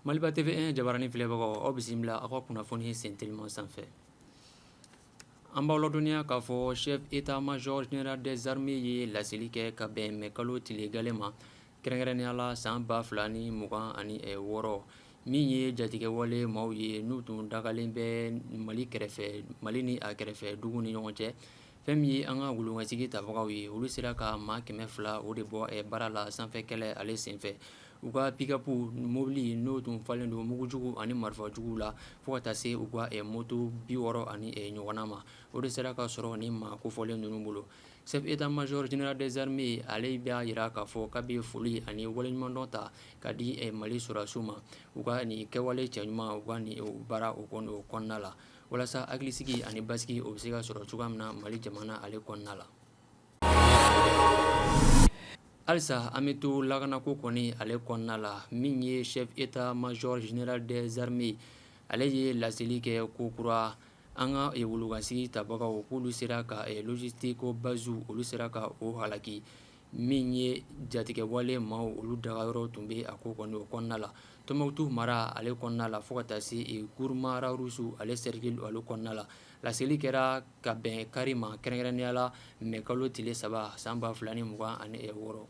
Maliba TV 1 jabaranin filɛbagaw aw bisimila aw ka kunnafoni sen teliman sanfɛ an b'aw ladɔnniya k'a fɔ chef état major général des armées ye laseli kɛ ka bɛn mɛ kalo tile gale ma kɛrɛnkɛrɛnnenya la san ba fila ni mugan ani wɔɔrɔ min ye jatigɛwale maaw ye n'u tun dagalen bɛ mali kɛrɛfɛ mali ni a kɛrɛfɛ dugu ni ɲɔgɔn cɛ fɛn min ye an ka wulukasigi tabagaw ye olu sera ka maa kɛmɛ fila o de bɔ baara la sanfɛ kɛlɛ ale senfɛ u ka pikapu mobili n'o tun falen don mugujugu ani marifajuguw la fo ka taa se u ka moto bi wɔɔrɔ ani ɲɔgɔnna ma o de sera ka sɔrɔ nin maa kofɔlen ninnu bolo Chef état major général des armées ale b'a yira k'a fɔ k'a bɛ foli ani waleɲumandɔn ta ka di mali sɔrɔdasiw ma u ka nin kɛwale cɛɲuman u ka nin baara o kɔnɔna la walasa hakilisigi ani basigi o bɛ se ka sɔrɔ cogoya min na mali jamana ale kɔnɔna la halisa an bɛ to lakanako kɔni ale kɔnɔna la min ye chef état major général des armées ale ye laseli kɛ ko kura an ka wulukasigi tabagaw k'olu sera ka logistique basew olu sera ka o halaki min ye jatigɛwale maaw olu dagayɔrɔ tun bɛ a ko kɔni o kɔnɔna la tɔnbukutu mara ale kɔnɔna la fo ka taa se Gourma Rharous ale sɛrikili ale kɔnɔna la laseli kɛra ka bɛn kari ma kɛrɛnkɛrɛnnenya la mɛ kalo tile saba san ba fila ni mugan ani wɔɔrɔ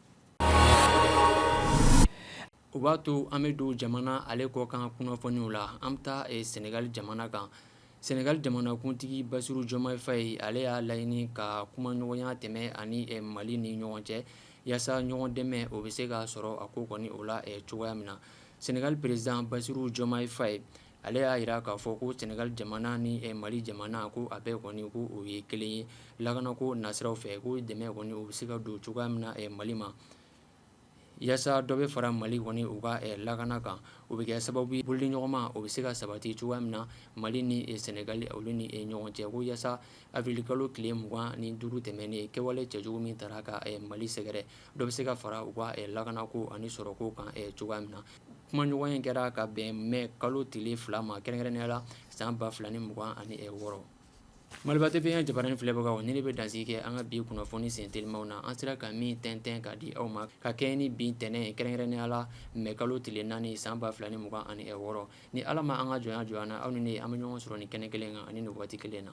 o b'a to an bɛ don jamana ale kɔkan kunnafoniw la an bɛ taa sɛnɛgali jamana kan sɛnɛgali jamanakuntigi basiru jomayi fayi ale y'a laɲini ka kumaɲɔgɔnya tɛmɛ a ni mali ni ɲɔgɔn cɛ yasa ɲɔgɔn dɛmɛ o bɛ se ka sɔrɔ a ko kɔni o la cogoya min na sɛnɛgali peresidan basiru jomayi fayi ale y'a yira k'a fɔ ko sɛnɛgali jamana ni mali jamana ko a bɛɛ kɔni ko o ye kelen ye lakanako nasiraw fɛ ko dɛmɛ kɔni o bɛ se ka don cogoya min na mali ma yasa dɔ bɛ fara mali kɔni u ka lakana kan o bɛ kɛ sababu ye bolodiɲɔgɔnma o bɛ se ka sabati cogoya min na mali ni sɛnɛgali olu ni ɲɔgɔn cɛ ko yasa awirili kalo tile mugan ni duuru tɛmɛnen kɛwale cɛjugu min taara ka mali sɛgɛrɛ dɔ bɛ se ka fara u ka lakanako ani sɔrɔko kan cogoya min na kumaɲɔgɔnya kɛra ka bɛn mɛ kalo tile fila ma kɛrɛnkɛrɛnnenya la san ba fila ni mugan ani wɔɔrɔ Maliba TV 1 jabaranin filɛbagaw ni ne bɛ dansigi kɛ an ka bi kunnafoni sen telimanw na an sera ka min tɛntɛn ka di aw ma ka kɛɲɛ ni bi ntɛnɛn ye kɛrɛnkɛrɛnnenya la mɛ kalo tile naani san ba fila ni mugan ani wɔɔrɔ ni ala ma an ka jɔnya jɔnya na aw ni ne an bɛ ɲɔgɔn sɔrɔ nin kɛnɛ kelen kan ani nin waati kelen na